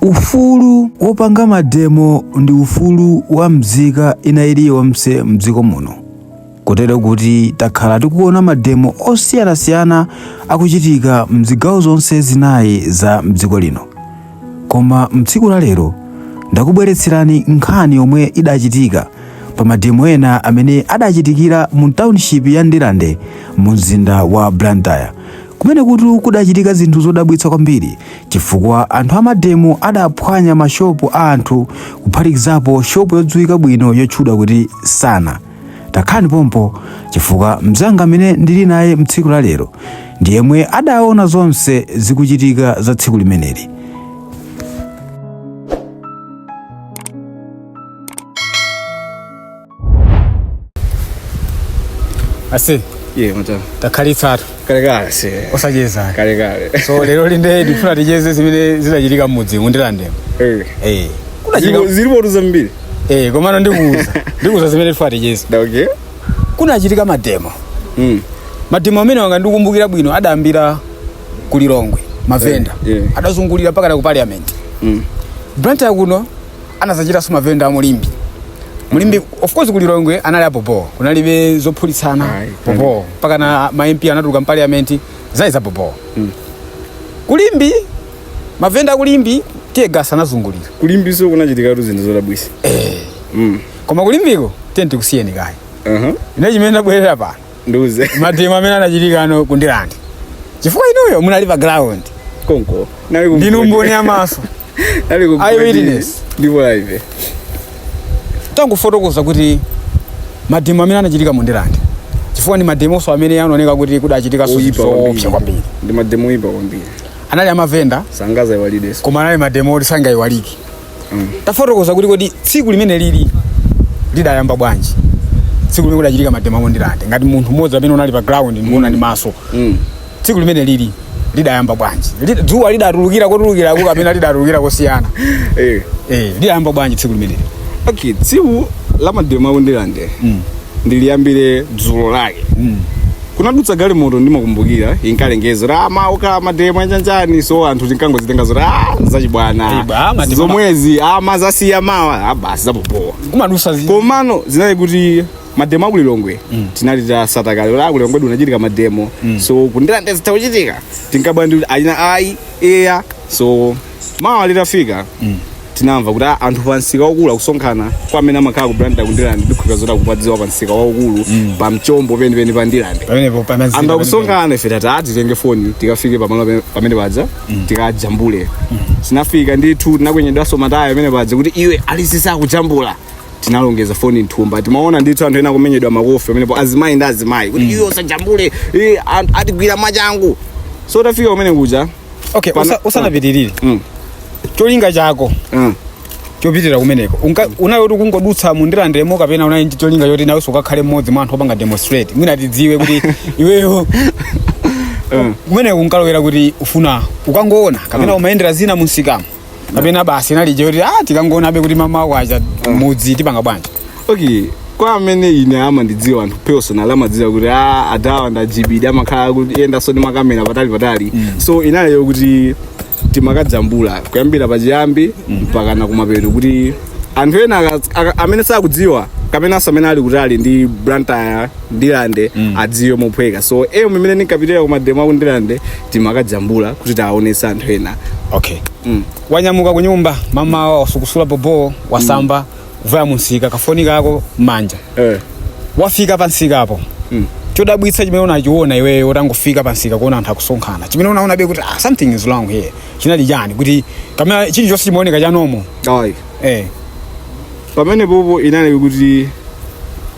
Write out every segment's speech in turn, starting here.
ufulu wopanga mademo ndi ufulu wa mzika ina iliyonse mdziko muno kotero kuti takhala tikuona mademo osiyanasiyana akuchitika mzigawo zonse zinayi za mdziko lino koma mtsiku la lero ndakubweretserani nkhani yomwe idachitika pa mademo ena amene adachitikira mu township ya ndirande mu mzinda wa blantyre Kumenekutu kudachitika zinthu zodabwitsa kwambiri chifukwa anthu amademo adaphwanya mashopu a anthu kuphatikizapo shopu yodziwika bwino yotchedwa kuti Sana. Takhalani pompo chifukwa mnzanga amene ndili naye mtsiku la lero ndi yemwe adaona zonse zikuchitika za tsiku limeneli. ase ye mata takhalitsatu kale kale se osacheza kale kale so lero lino nde ndifuna ticheze zimene zinachitika m'mudzi mu ndirandemo eh eh kunachitika zilipo zambiri eh komano ndikuuza ndikuuza zimene ndifuna ticheze da okay kunachitika mademo mm mademo amene aja ngati ndikukumbukira bwino adayambira ku lilongwe mavenda Eh, eh. adazungulira mpakana ku parliament mm blantyre kuno anazachitanso mavenda a mu limbe mu limbe of course ku lilongwe anali abhobho kunalibe zophulitsana Ayi, bhobho mpakana ma MP anatuluka mu parliament zinali za bhobho ku limbe mavenda a ku limbe tiye gasa anazungulira ku limbeso kunachitikatu zinthu zodabwisa Mm. koma ku limbeko tiyeni tikusiyeni kaye Aha. ine chimene ndabwerera pano ndiuze mademo amene anachitika ano ku ndirande chifukwa inuyo munali pa ground konko nali ku ndinu mboni ya maso nali ku Eye witness. ndipo live tangofotokoza kuti mademo amene anachitika mu ndirande chifukwa ndi mademonso amene anaoneka kuti kudachitika Oyipa zoopsa kwambiri ndi mademo ipa kwambiri anali amavenda sangazaiwalikeso koma anali mademo oti sangaiwalike tafotokoza kuti kodi tsiku limeneli lidayamba bwanji tsiku limene kudachitika mademo a ku ndirande ngati munthu mmodzi amene unali pa ground ndikuona ndi maso Mm. tsiku limeneli lidayamba bwanji Lid- dzuwa lidatulukira kotulukirako kapena lidatulukira kosiyana Eh. eh, lidayamba bwanji tsiku limeneli okay tsiku la mademo a ku ndirande Mm. ndiliyambire dzulo lake Mm. kunadutsa galimoto ndikukumbukira inkalengeza kuti ah, mawa kuli mademo anjanjani so anthu tinkangozitenga zoti ah, zachibwana Ayi, ba, mademo- zomwezi ah, amazasiya mawa ah, basi za bhobho kumadusa zi komano zinali kuti mademo a ku lilongwe tinali titatsata kale kuti ku lilongwe kunachitika mademo so ku ndirande za kuchitika tinkabwa ndi kuti ayina ayi eya so mawa litafika tinamva kuti "Ah, anthu pa msika waukulu akusonkhana kwa amene amakhala ku Blantyre ku Ndirande ndikhulupirira zoti akupadziwa pa msika waukulu pa mchombo penipeni pa Ndirande pamenepo pamadzaza anthu akusonkhana ife tati "Ah, titenge foni tikafike pamalo pame- pamene paja tikajambule tinafika ndithu tinakwenyedwanso matayo pamene paja kuti iwe alekereni akujambula tinalongeza foni mthumba timaona ndithu anthu ena akumenyedwa makofi pamenepo azimayi ndi azimayi kuti iwe usajambule eh, anthu atigwira machangu so tafika kumene kuja okay Pana- usa- usanapitirire Mm. cholinga chako Mm. chopitira kumeneko Unka- unali kuti ukungodutsa mu Ndirandemo kapena unali ndi cholinga choti nawenso ukakhale mmodzi mwa anthu opanga demonstrate mwina tidziwe kuti iweyo kumeneko unkalowera kuti ufuna ukangoona kapena umayendera zina mumsikamo kapena basi inali je kuti ah tikangoona be kuti mmawa kwacha mudzi tipanga bwanji okay kwa amene ine amandidziwa anthu personally amadziwa kuti a adawa ndajibidi amakhala kuti yendanso ndi makamera patali patali so inaliyo kuti timakajambula kuyambira pachiyambi mpakana kumapeto kuti anthu ena aka- aka- amene sakudziwa kapenanso amene ali kutali ndi Blantyre Ndirande mm. adziwe mophweka so eyo mmene ndinkapitira kumademo aku Ndirande timakajambula kuti tiwaonetse anthu ena okay mm. wanyamuka kunyumba mmawa wasukusula bobo wasamba mm. vaya mumsika kafoni kako mmanja eh. wafika pamsikapo mm. chodabwitsa chimene unachiona iweyo utangofika pamsika kuona anthu akusonkhana chimene unaona be kuti ah, something is wrong here chinali chani kuti kamera chilichonse chimaoneka chanomo eh. pamenepopo inali kuti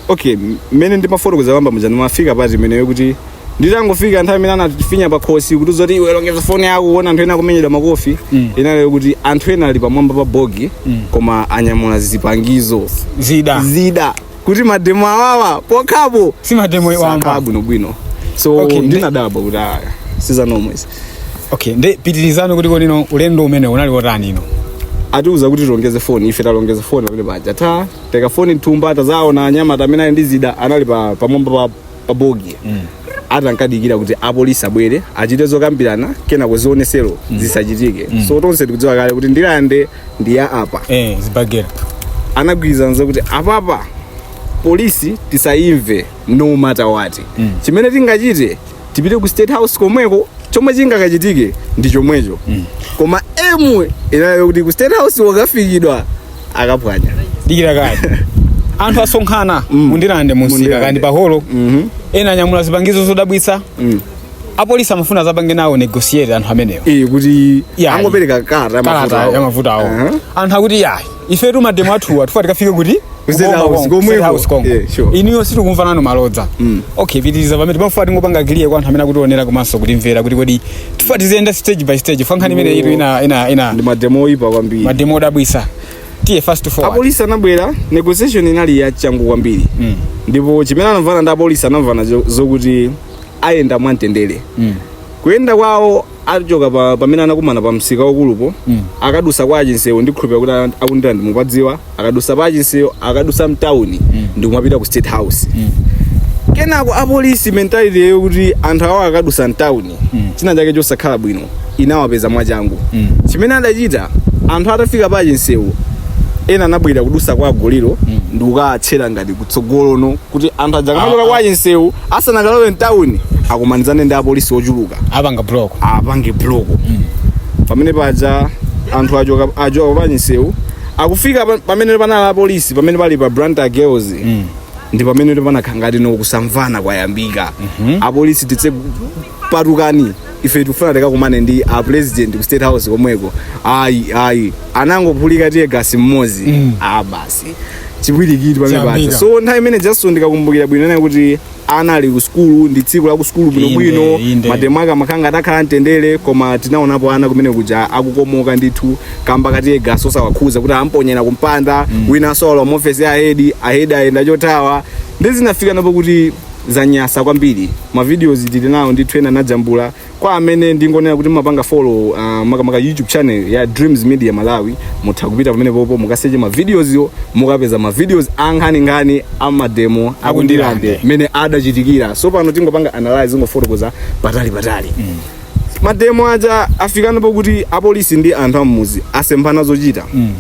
okay mmene ndimafotokozera poyamba muja ndimafika part imeneyo kuti nditangofika nthawi imene anatifinya pa khosi kuti zoti iwe longeza foni yako kuona anthu ena akumenyedwa makofi Mm. inali kuti anthu ena ali pamwamba pa bogi Mm. koma anyamula zipangizo zida zida kuti mademo awawa pokhapo simademo wamba satha bwinobwino so Okay, ndi- ndinadabwa kuti aya sizanomwezi okay nde pitirizani kuti komano ulendo umene unali wotani no atiuza kuti tilongeze foni ife talongeza foni pamene paja taika foni mthumba tadzaona anyamata amene ali ndi zida anali pa pamwamba pa, pa bogi ati ankadikira kuti apolisi abwere achite zokambirana kenako zionesero zisachitike so tonse tikudziwa kale kuti Ndirande ndi ya apa eh zibagera anagwirizana kuti apapa polisi tisayimve no matter what chimene tingachite tipite ku state house komweko chomwe chingakachitike ndi chomwecho koma aim inali yokuti ku state house ikafikidwa akaphwanya dikira kaya anthu asonkhana Mm. mu Ndirande mumsika Mu Ndirande. kaya ndi paholo Mhm. ena anyamula zipangizo zodabwitsa Mm. apolisi amafuna azapange nawo negotiate anthu amenewo Eh, kuti Yeah. angopereka ka- kalata ya mavuto awo Aha. anthu akuti yayi ifetu mademo athuwa tufuna tikafike kuti Ku State House, Kongo, komweko. State House Kongo. Yeah, sure. inuyo sitikumva nanu malodza okay pitiriza pamene timafuna tingopanga clear kwa anthu amene akutionera komanso kutimvera kuti kodi tifuna tiziyenda stage by stage fukwa nkhani imeneyitu ina ina ina ndi mademo oyipa kwambiri mademo odabwisa tiye fast forward apolisi anabwera negotiation inali ya changu kwambiri Mm. ndipo chimene anamvana ndi apolisi anamvana zo- zokuti ayenda mwamtendere Mm. kuyenda kwawo achoka pa, pamene anakumana pa msika waukulupo mm. akadusa kwa chinseu ndikhulupira kuti ana- aku ndirande mupadziwa akadusa pa chinseu akadusa mtawuni mm. ndikumapita ku state house mm. kenako apolisi mentality yawo kuti anthu awo akadusa mtawuni mm. china chake chosakhala bwino inawapeza mwachangu mm. chimene adachita anthu atafika pa chinseu ena anabwera kudusa kwa goliyo mm. ndikukatchera ngati kutsogolono kuti anthu adzakamachoka kwa chinseu asanakalowe mtawuni akumanizane ndi apolisi ochuluka apanga block apange block pamene paja anthu achoka achoka pa chinseu akufika pa- pamene panali apolisi pamene pali pa blantyre girls ndi pamene panakhala ngatino kusamvana kwayambika apolisi titse patukani ife tikufuna tikakumane ndi a president ku state house komweko ayi ayi anangophulika teargas mmodzi a basi chipwirikiti pamene paja Chiyambika. so nthawi imene jason ndikakumbukira bwino ndiye kuti ana ali ku sukulu ndi tsiku la ku sukulu Inde, bwinobwino inde. mademo ake amakhala ngati akhala amtendere koma tinaonapo ana kumene kuja akukomoka ndithu kamba ka teargas osawakhuza kuti amponyera kumpanda winanso walowa muofesi ya ahedi ahedi ayenda chothawa nde zinafikano pokuti zanyasa kwambiri mavideos tili nawo ndithu ena anajambula kwa amene ndingonena kuti mumapanga follow uh, makamaka youtube channel ya dreams media malawi mutha kupita pamenepopo mukaseche ma videos wo mukapeza ma videos ankhaninkhani amademo aku ndirande mmene adachitikira so pano tingopanga analyze tingofotokoza patali patali mm. mademo aja afikano pokuti apolisi ndi anthu ammuzi asemphana zochita mm.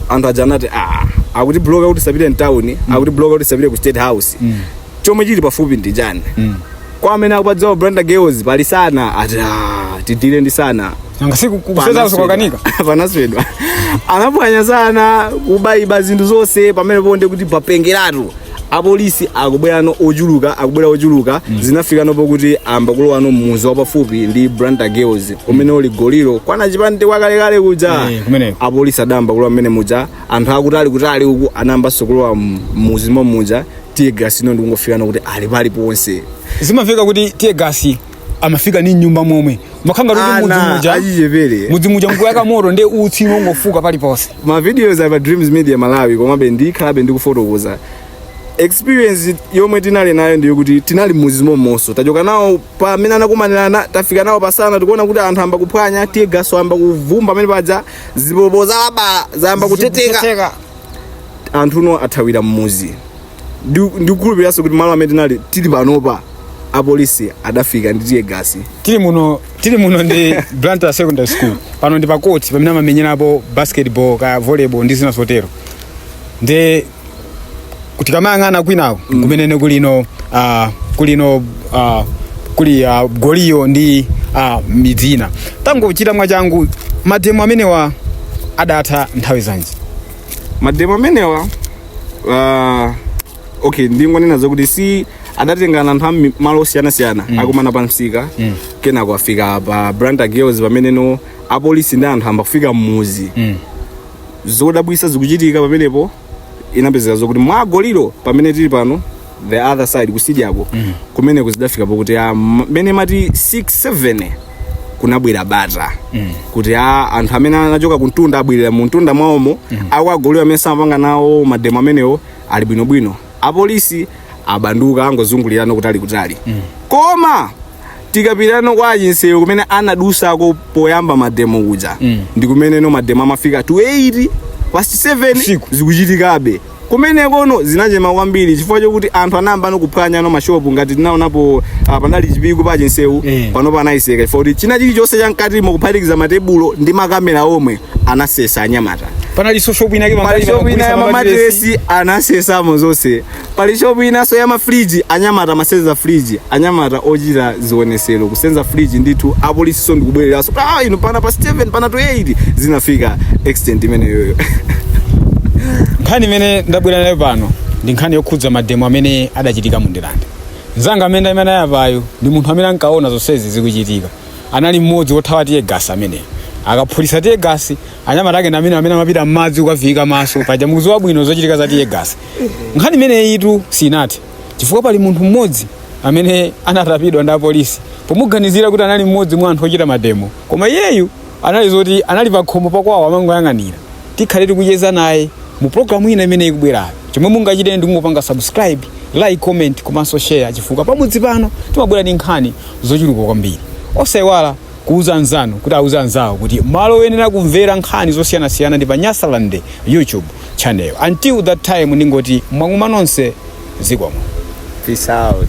anthu aja anati ah, akutibloka kuti tisapite mtawuni mm. akutibloka kuti tisapite ku state house mm. chomwe chili pafupi ndi chani mm kwa amene akupadziwa blantyre girls pali sana ati "Ah, tidile ndi sana nanga si ku state house kwakanika panaswedwa anaphwanya sana kubayiba zinthu zonse pamenepo nde kuti papengeratu apolisi akubwerano ochuluka akubwera ochuluka zinafikano pokuti ayamba kulowano mmuzi wapafupi ndi blantyre girls umene uli goliyo kwana chipande kwakalekale kuja Eh, kumeneko. apolisi adayamba kulowa mmene muja anthu akutali kutali uku anayambanso kulowa mmuzi momuja tiye gasi ino ndikungofika nokuti ali pali ponse zimafika kuti tiye gasi amafika m'nyumba momwe makhanda kuti mudzi ana muja achichepere mudzi muja mukuyaka moto ndi utsi kungofuka paliponse ma videos apa dreams media malawi komabe ndikhalabe ndikufotokoza experience yomwe tinali nayo ndiyo kuti tinali mmuzi mommonso tachoka nawo pamene anakumanirana tafika nawo pasana tikuona kuti anthu amba kuphwanya tiye gasi amba kuvumba amene paja zipolopolo zalabala zayamba kutheteka Zikutheteka. anthuno athawira mmuzi ndikukhulupiriranso kuti malo amene tinali tili panopa apolisi adafika ndi tiye gasi tili muno ndi blantyre secondary school pano ndi pa court pamene amamenyerapo basketball kaya volleyball ndi zina zotero ndi tikamayang'ana kwinawo mm. kumenene kulino uh, kulino uh, kuli uh, goliyo ndi uh, midzina tangochita mwachangu mademo amenewa adatha nthawi zanji mademo amenewa uh, okay ndingonena zakuti si adatengana anthu ami- malo osiyanasiyana mm. akumana pa msika mm. kenako afika pa blantyre girls pameneno apolisi ndi anthu amba kufika mmuzi mm. zodabwisa zikuchitika pamenepo inapezeka zokuti kwa goliyo pamene tili pano the other side kusidyako mm. kumeneku zidafika pokuti ah, m- m'mene imati 6 7 kunabwera bata mm. kuti a anthu amene anachoka kuntunda abwerera mu mtunda mwawomo mm. akwa goliyo amene samapanga nawo mademo amenewo ali bwinobwino apolisi abanduka angozungulirano kutali kutali mm. koma tikapitano kwa chinsewu kumene anadusako poyamba mademo kuja Mm. ndi kumeneno mademo amafika to 8 past 7 Usiku. zikuchitikabe kumenekono zinachena kwambiri chifukwa chokuti anthu anayambano kuphwanyano mashopu ngati tinaonapo ah, panali chipiku pa chinsewu Eh. pano anaitseka chifukwa kuti china chilichonse chamkatimo kuphatikiza matebulo ndi makamera omwe anasesa anyamata panali so shop ina yake pamene mashopu ina ya mamatiresi anasesamo zonse pali shopu inanso ya mafriji anyamata amasenza friji anyamata ochita zionesero kusenza friji ndithu apolisiso ndikubwereranso ah, inu pama past 7 pama to 8 zinafika extent imeneyoyo nkhani imene ndabwera nayo pano ndi nkhani yokhudza mademo amene adachitika mu ndilande mzanga amene ali apayo ndi munthu amene ankaona zonsezi zikuchitika anali mmodzi wothawa tiye gasi ameneyo akaphulisa tiye gasi anyamata ake ndi amene amapita m'madzi kukaviika maso paja mukuziwa bwino zochitika za tiye gasi nkhani imeneyitu sinathe chifukwa pali munthu mmodzi amene anatapidwa ndi apolisi pomuganizira kuti anali mmodzi mwa anthu ochita mademo koma iyeyu anali zoti anali pakhomo pakwawo amangoyang'anira tikhale tikucheza naye mu programu ina imene ikubwerayo chomwe mungachite ndi kungopanga subscribe like comment komanso share chifukwa pamudzi pano timabwera ndi nkhani zochuluka kwambiri osayiwala Kuuza anzanu kuti auze anzawo kuti malo oyenera kumvera nkhani zosiyanasiyana ndi pa Nyasaland YouTube channel. Until that time ndingoti mwagumwa nonse zikomo. Peace out.